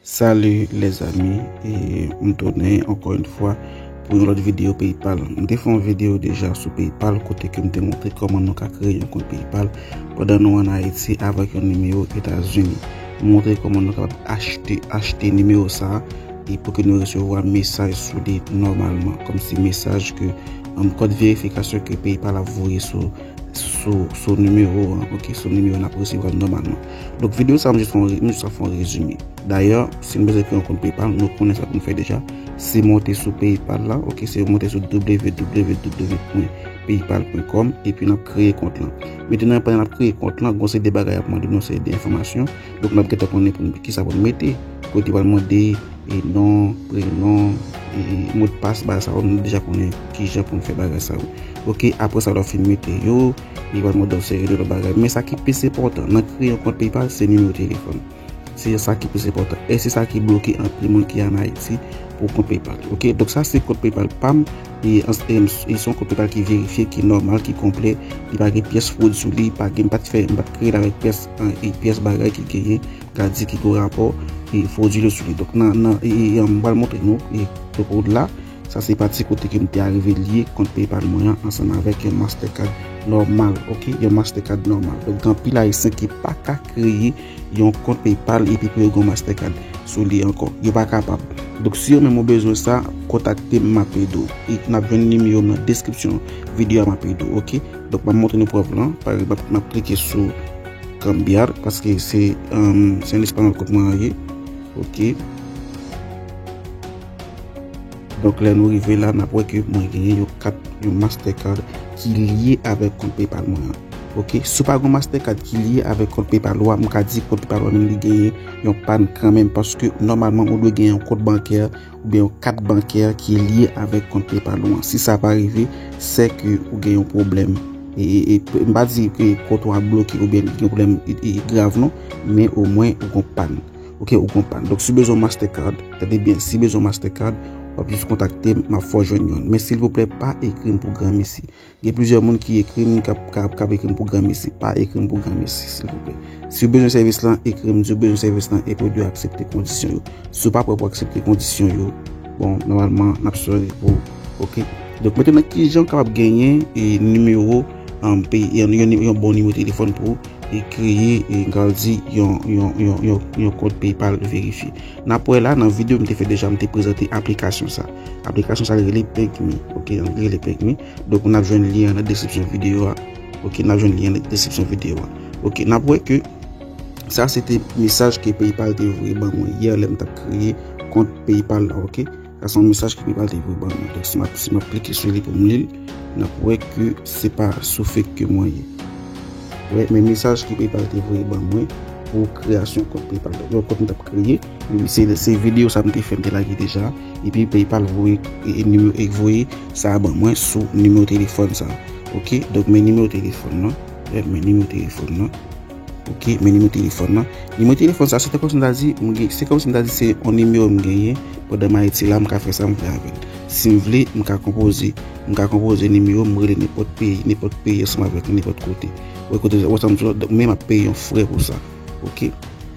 Salut les amis et m tounen ankò yon fwa pou yon lòt video paypal m te fè yon video deja sou paypal kote ke m te montre kòman nou ka kreye yon kont paypal pandan nou an ayiti avèk yon nimewo etazini m montre kòman nou kapab achte achte nimewo sa e pou ke nou resevwa mesaj sou li nòmalman kòm si mesaj ke m kòd verifikasyon ke paypal ap voye sou sou sou nimewo an ok sou nimewo n ap resevwa nòmalman. Donk video sa mwen jis fon mwen jis fon rezime. Dayè, si nou bezwen kre yon kont PayPal, nou konnen sa pou nou fè deja. Se monte sou PayPal la, ok, se monte sou www.paypal.com epi nou kreye kont lan. Metenan pandan nou kreye kont lan, gon se de bagay ap mande nou se de enfomasyon. Donk nou ap gete konnen pou ki sa pou nou mete. Kote wal mande, e non, pre non, e mot pas, ba sa ou nou deja konnen ki jan pou nou fè bagay sa ou. Ok, apre sa wap fini mete yo. Li bay mòd dòf seri de lòt bagay. Men sa ki plis enpòtan nan kreye yon kont PayPal se nimewo telefòn. Se sa ki plis enpòtan. E se sa ki bloke anpil moun ki an Ayiti pou kont PayPal. Ok, donk sa se kont PayPal pam. Li e son kont PayPal ki verifye, ki nòmal, ki konplè. Li pa gen pyès fwod sou li. Pa gen, m pat fè, m pat kreye l avèk pyès an e pyès bagay ki genyen, ka di ki gen rapò e fwodile sou li. Donk nan, nan e, m pral montre nou e, donk la. Sa se pati kote ke m te arive lye kont PayPal mwen an ansanm avèk yon Mastercard nòmal ok yon Mastercard nòmal donk gen anpil ayisyen ki pa ka kreye yon kont PayPal epi pou yo gen yon Mastercard sou li ankò yo pa kapab donk si ou menm ou bezwen sa kontakte m m ap ede w e n ap jwenn nimewo m nan deskripsyon videyo a m ap ede w ok donk m ap montre nou prèv lan pa egzanp m ap klike sou cambiar paske se se an espanòl kont mwen an ye ok. Donk lè nou rive la nap wè ke mwen genyen yon kat yon master card ki lye avèk kont PayPal mwen an ok si w pa gen yon master card ki lye avèk kont PayPal ou a m ka di kont PayPal ou a menm li genyen yon pàn kanmenm paske nòmalman ou dwe gen yon kont bankè oubyen yon kat bankè ki lye avèk kont PayPal ou an si sa pa rive se ke ou gen yon pwoblèm m pa di ke kont ou a bloke oubyen gen pwoblèm grav non men omwen ou gon pàn. Ok, ou konprann. Donk, si w bezwen yon Mastercard, tande byen, si w bezwen yon Mastercard, w ap jis kontakte m, m ap fè w jwenn youn. Men, silvouplè, pa ekri m pou granmesi. Gen plizyè moun ki ekri m, k ap ekri m pou granmesi. Pa ekri m pou granmesi, silvouplè. Si w bezwen sèvis lan, ekri m di w bezwen sèvis lan epi w dwe aksepte kondisyon yo. Si w pa prè pou aksepte kondisyon yo, bon, nòmalman, n ap sòri pou ou. Ok? Donk, mete nan ki jan w kapab genyen nimewo, yon bon nimewo telefòn pou ou. e kreye e grandi yon yon kont PayPal verifye. N ap wè la nan videyo m te fè deja m te prezante aplikasyon sa. Aplikasyon sa rele PakeMe ok an angle rele PakeMe donk n ap jwenn lyen an nan deskripsyon videyo a ok n ap jwenn lyen an nan deskripsyon videyo a ok n ap wè ke sa se te mesaj ke PayPal te voye ban mwen yè lè m t ap kreye kont PayPal la ok. Sa son mesaj ki pral livre ban nou. Donk si map si map klike sou li pou m lil, nap wè ke se pa sou fake ke mwen ye. Wè men mesaj ki pral te voye ban mwen pou kreyasyon kont PayPal. Donk yon kont m tap kreye, se se video sa m te fè m te lage deja, epi PayPal voye e nimewo e voye sa ban mwen sou nimewo telefòn sa. Ok, donk men nimewo telefòn nan, wè men nimewo telefòn nan. Ok men nimewo telefòn nan. Nimewo telefòn sa se te kòmsi m ta di m gen se kòmsi m ta di se yon nimewo m genyen pandan m Ayiti la m ka fè sa m vle avè l. Si m vle m ka konpoze m ka konpoze nimewo m rele nenpòt peyi nenpòt peyi ansanm avè m nenpòt kote. Ou wè kote wè sa m di w la men m ap peye yon frè pou sa ok.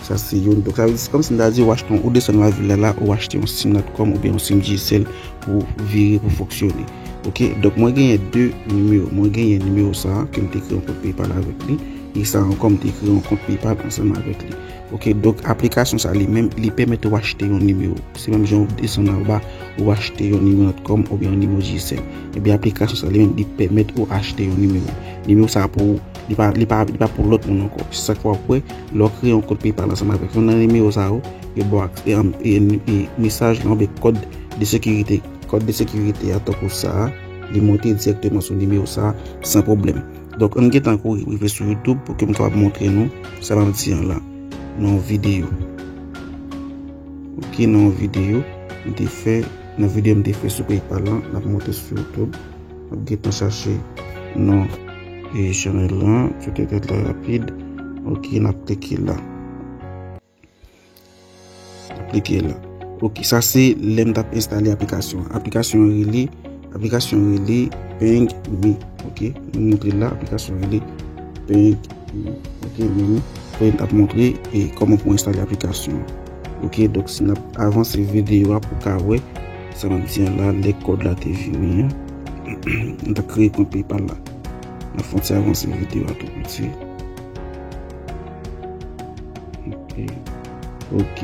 Sa se youn donk sa vle di se kòmsi m ta di w achte yon ou desann lavil la la ou achte yon sim natcom oubyen yon sim dyesèl pou vire pou fonksyone ok. Donk mwen genyen 2 nimewo mwen genyen nimewo sa ke m te kreye m te peye pale avèk li. Li sa ankò m te kreye yon kont PayPal ansanm avèk li. Ok donk aplikasyon sa li menm li pèmèt ou achte yon nimewo. Se menm jan ou desann anba ou achte yon nimewo Notcom oubyen yon nimewo Digicel. Ebyen aplikasyon sa li menm li pèmèt ou achte yon nimewo. Nimewo sa pou ou. Li pa li pa li pa pou lòt moun ankò. Se sak fè wap wè lè w kreye yon kont PayPal ansanm avèk yon nan nimewo sa yo, yo ba w ak e anm e e mesaj lan oubyen kòd de sekirite. Kòd de sekirite a tankou sa a li monte dirèkteman sou nimewo sa a san pwoblèm. Donk ann gentan kouri rive sou youtube pou ke m kapab montre nou sa m ap di an la nan yon videyo ok nan yon videyo m te fè nan videyo m te fè sou paypal lan m ap monte sou youtube m ap gentan chache non e chanèl lan m sou te fèt la rapid ok n ap klike la. Klike la. Ok, sa se lè m tap enstale aplikasyon. Aplikasyon an rele, aplikasyon an rele Peng Me. Ok, m montre la, aplikasyon an rele Peng Me. Ok, men m fè tap montre e koman pou enstale aplikasyon. Ok, dok si nap avanse videyo a pou ka wè sa map di an la, lè kòd la te vini an. M tap kreye kont PayPal la. Nap fon ti avanse videyo a tou piti. Ok,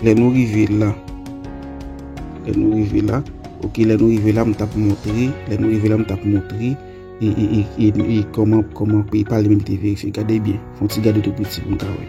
lè nou rive la, lè nou rive la, ok, lè nou rive la, m tap montre, lè nou rive la, m tap montre, e, e, e, e, e, koman, koman pey pal menm te verife, gade byen, fon ti gade tou piti pou m ka wè.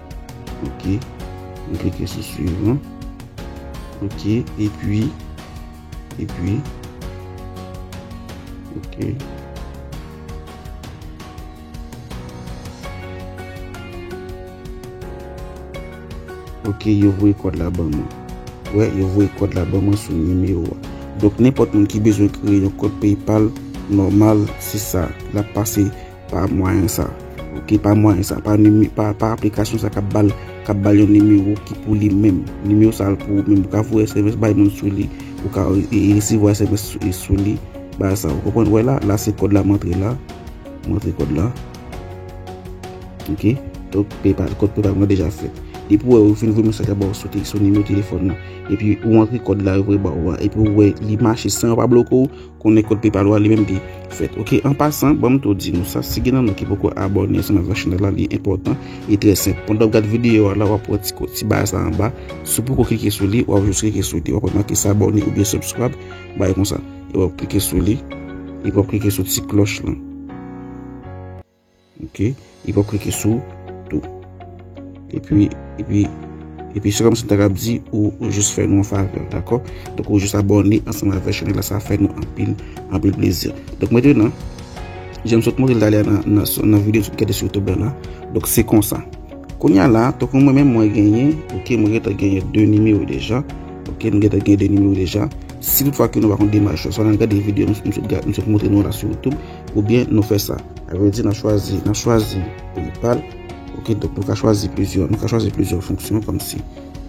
Ok, m klike sou swiv lan. Ok, epi, epi, ok. Ok, yo voye kòd la ban mwen. Wè, yo voye kòd la ban mwen sou nimewo a. Donk, nenpòt moun ki bezwen kreye yon kòd PayPal, nòmal, se sa. L ap pase Pa mwayen sa ok pa mwayen sa pa nime pa pa aplikasyon sa kap bal kap bal yon nimewo ki pou li menm nimewo sa pou ou menm ou ka voye sms bay moun sou li ou ka resevwa sms sou li ba sa ou konprann wè la la se kòd la mantre la mantre kòd la ok donk paypal kòd paypal mwen deja fèt depi ou wè ou fin voye mesaj la ba ou sou nimewo telefòn nan epi ou antre kòd la yo voye ba ou a epi ou wè li mache san yo pa bloke ou Konnen kod PayPal ou a li menm ki fèt ok an pasan banm tou di nou sa si gen nan nou ki poko abòne ansanm avèk chanèl la li enpòtan e trè senp pandan wap gad videyo a la wap wè ti ti ba sa anba si w poko klike sou li wap jis klike sou li wap wè make s'abonner oubyen subscribe bay konsa epi wap klike sou li epi wap klike sou ti klòch lan. Ok, e pou klike sou tou. E pi, e pi, e pi se kòm si ta kap di ou jous fè nou an favè, dakò? Donk ou jous abòne ansanm avè chanèl la sa fè nou anpil, anpil plezi. Donk mwen te nan, jan m sot montre l talè a nan videyo m sot gade sou YouTube la, donk se konsa. Kounya la, donk mwen menm mwen genyen, ok, mwen gen tan genyen 2 nimewo deja, ok, mwen gen tan genyen 2 nimewo deja. Si tout fwa ke nou pa konn demach yo, sa nan gade videyo m sot montre nou la sou YouTube. Ou byen nou fè sa. A vre di nan chwazi, nan chwazi Drupal. Ok donk nou ka chwazi plizyè, nou ka chwazi plizyè fonksyon kòm si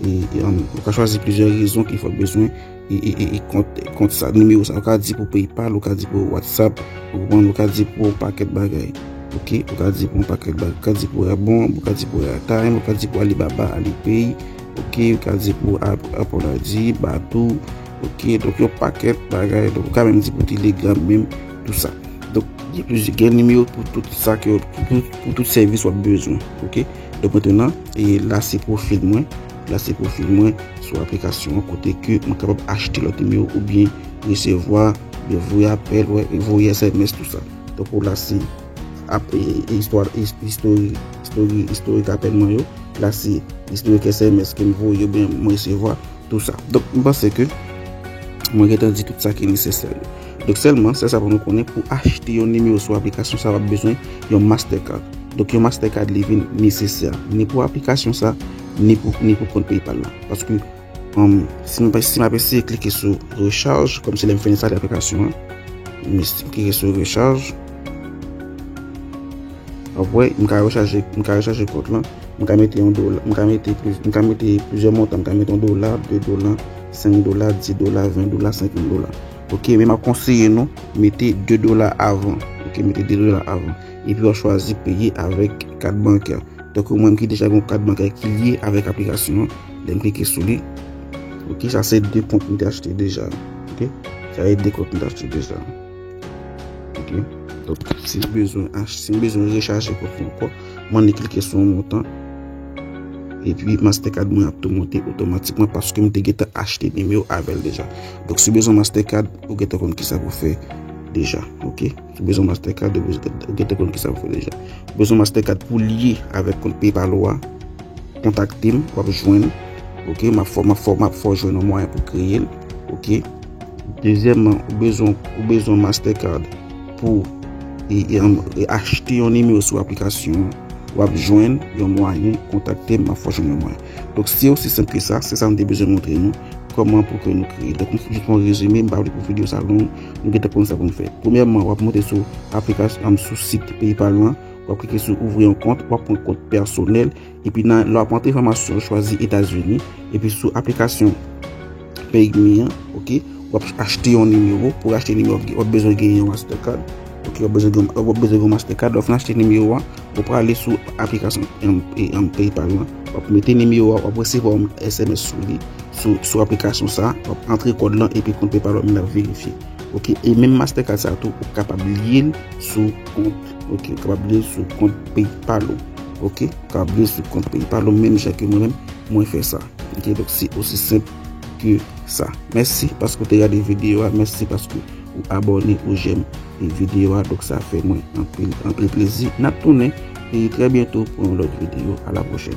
e nou ka chwazi plizyè rezon ki fè bezwen e kont, kont sa nimewo sa. Ou ka di pou PayPal, ou ka di pou WhatsApp, ou konprann, ou ka di pou yon pakèt bagay. Ok, ou ka di pou yon pakèt bagay. Ou ka di pou Rabon, ou ka di pou Airtime, ou ka di pou Alibaba, Alipay. Ok, ou ka di pou Apple ID, Badoo. Ok, donk yon pakèt bagay. Donk ou ka menm di pou Telegram menm. Tout sa. Donk, gen nimewo pou tout sa ke, pou tout sèvis wap bezwen. Ok? Donk, mètenan, e la se profil mwen. La se profil mwen sou aplikasyon an kote ke mwen kapab achte lòt nimewo ou byen resevwa, byen voye apèl, wè, voye sms tout sa. Donk, ou la se ap e istwa, istori, istori, istorik apèl mwen yo. La se istorik sms ke m voye ou byen m resevwa. Tout sa. Donk, m panse ke mwen gentan di tout sa ki nesesè yo. Donk sèlman, sè sa pou nou konnen pou achte yon nimewo sou aplikasyon sa w ap bezwen yon Mastercard. Donk yon Mastercard li vin nesesè ni pou aplikasyon sa ni pou kont PayPal la. Paske si m ap eseye klike sou recharge, kòm se lè m fè enstale aplikasyon an, m klike sou recharge, w ap wè m ka rechaje kont lan, m ka mete yon dola, m ka mete plizyè montan, m ka mete yon dola, 2 dola, 5 dola, 10 dola, 20 dola, 50 dola. Ok men map konseye nou mete 2 dola avan ok mete 2 dola avan epi wap chwazi peye avèk kat bankè tankou mwen ki deja gen yon kat bankè ki lye avèk aplikasyon an lè m klike sou li ok sa se 2 kont m te achte deja ok sa se 2 kont m te achte deja ok donk si m bezwen achte si m bezwen rechaje kont mwen ankò mwen annik klike sou yon montan epi mastercard mwen ap tou monte otomatikman paske m te gentan achte bim yo avèl deja. Donk si w bezwen Mastercard, ou gentan konn kisa pou w fè deja. Ok. Si w bezwen Mastercard, ou gentan konn kisa pou w fè deja. Ou bezwen Mastercard pou w lye avèk kont PayPal ou a, kontakte m, w ap jwenn. Ok. M ap fè w jwenn yon mwayen pou w kreye l. Ok. Dezyèmman, ou bezwen Mastercard pou w achte yon nimewo sou aplikasyon an. W ap jwenn yon mwayen, kontakte m, m ap fè w jwenn yon mwayen. Donk se osi senp ke sa, se sa nou te bezwen montre nou, kòman pou ke nou kreye. Donk m jis fè yon rezime, m pa vle pou video sa long, nou gentan konn sa pou nou fè. Premyèman, w ap monte sou aplikasyon, sou sit PayPal ou an, w ap klike sou ouvri yon kont, w ap pran kont pèsonèl, epi nan, lè w ap antre enfòmasyon, chwazi Etazini, epi sou aplikasyon. Page me an ok wap achte yon nimewo pou achte nimewo wap bezwen gen yon master card ok wap bezwen gen wap bezwen gen master card lè w fin achte nimewo a ou prale sou aplikasyon yon paypal lan wap mete nimewo a wap resevwa yon sms sou li sou aplikasyon sa wap antre kòd lan epi kont paypal ou menm lap verifye ok e menm master card sa tou ou kapab liyel sou kont Ok kapab li sou kont paypal ou ok kapab li sou kont paypal ou menm jan ke mwen menm mwen fè sa ok donk se osi senp ke sa mèsi paske ou te gade videyo a mèsi paske ou abòne ou jèm e videyo a donk sa fè mwen anpil anpil plezi nap tounen e trè byento pou yon lòt videyo a la pwochèn.